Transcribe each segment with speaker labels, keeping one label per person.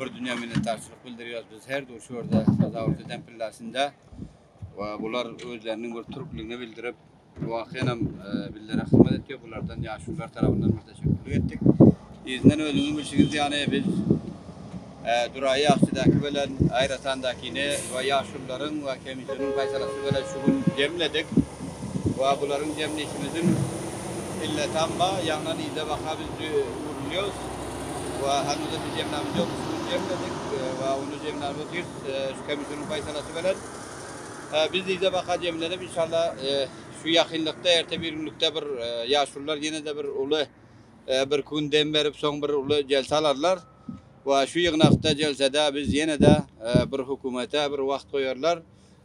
Speaker 1: bir dünýä minnetdarçylyk bildirýäris. Biz her duşy görde sazawulyk eden pilläsinde we bular özleriniň bir türkligini bildirip, wakyýanam e, bizlere hyzmat etýär. Bulardan ýaşulular tarapyndan bir teşekkürlik etdik. Yzyndan özüňiz bilşiňiz ýaly biz e, Duraýy Akçydaky bilen Aýratandakini we ýaşulularyň we kemijiniň gaýtalasy bilen şu gün jemledik. Wa bularyň jemlişimiziň illetamma ýaňlan yza baka biz dü- ugrulýarys. we hanuzam biz jemlämiz ýok, üstümizi jemledik we ony jemläp otyrys şu komissiýanyň paýsalasy bilen. Biz yza baka jemlenip inşallah şu ýakynlykda erte bir günlükde bir ýaşulular ýene-de bir uly bir gün dem berip soň bir uly jelse alarlar we şu ýygnakda jelsede biz ýene-de bir hökümete bir wagt goýarlar.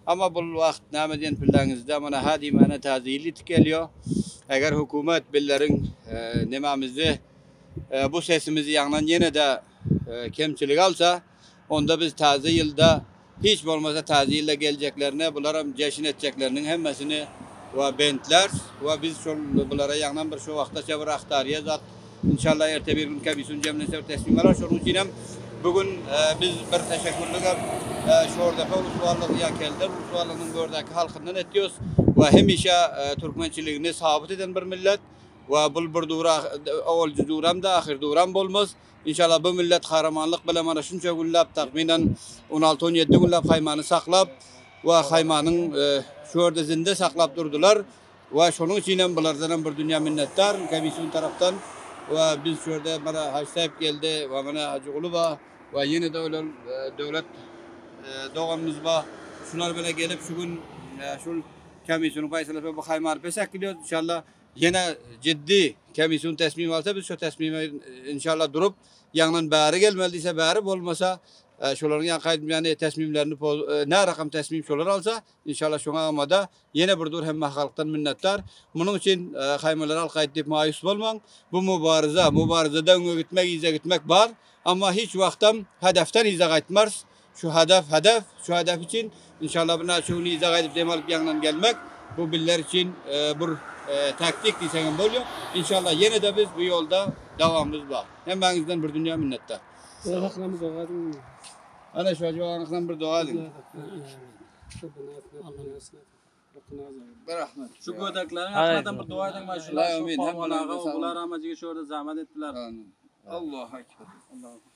Speaker 1: Amma bul wagt näme diýen pilleňizde mana hä diýmäne täze ýyl ýetip gelýär. Eger hökümet bizleriň nämemizi, Bu sesimizi ýaňlan ýene-de kemçilik alsa, onda biz Taze ýylda, hiç bolmasa Taze ýylda geljeklerine bularam jeşin etjekleriniň hemmesini we bentlärs we biz şol bulara ýaňlan bir şu wagtaça bir ahtarýa zat inşallah erte bir gün kebisun jemlense bir teslim alar şonuň üçin hem bu gün biz bir teşekkürlik hem Şordepe Uswallygy ýa Kelder Uswallygynyň bu ýerdäki halkyndan etýos we hemişe türkmençiligini sabyt eden bir millet. Wa bul bir dur owalji duramdy ahyr duram bolmaz inşallah bu millet kahramanlyk bilen mana şunça günläp tahminen on alty on ýedi günläp haýmany saklap wa haýmanyň şu ýerde zinde saklap durdylar wa şonuň üçinem bulardanam bir dünýä minnetdaryn komissiýa tarapdan wa biz şu ýerde mana haj saýyp geldi wa mana hajyguly ba wa ýene-de ölen döwlet doganymyz ba şular bile gelip şu gün şul komissiýanyň paýtalaşyp bu haýmany bes äkidýär inşallah Ýene jiddi komissiýun tesmim alsa biz şo tesmime inşallah durup ýaňydan bäri gelmeli diýse bäri bolmasa şolaryň ýaňky aýdym ýaly tesmimlerini nä rakam tesmim şolar alsa inşallah şoňa amada ýene bir dur hemme halkdan minnetdar munuň üçin haýmalar halk aýt diýip maýus bolmaň bu mubaryza mubaryzada öňe gitmek yza gitmek bar amma hiç wagtam hedefden yza gaýtmars Şu hadaf, hedef, şu hedef üçin inşallah bir näçe gün yza gaýdyp dem alyp ýaňydan gelmek, bu bizler üçin bir taktik diýseň hem bolýar. Inşallah ýene-de biz bu ýolda dowamymyz bar. Hemmäňizden bir dünýä minnetdar. Sag
Speaker 2: boluň. Ana şu
Speaker 1: ajybagyň akyna bir doga ediň. Bir rahmet. Şu gödekleriň
Speaker 3: akyna bir doga ediň maşyn. Allaýa amin. Hemmäňize sag boluň. Bular ama jigi şu ýerde zähmet etdiler. Amin. Allahu
Speaker 1: ekber. Allahu ekber.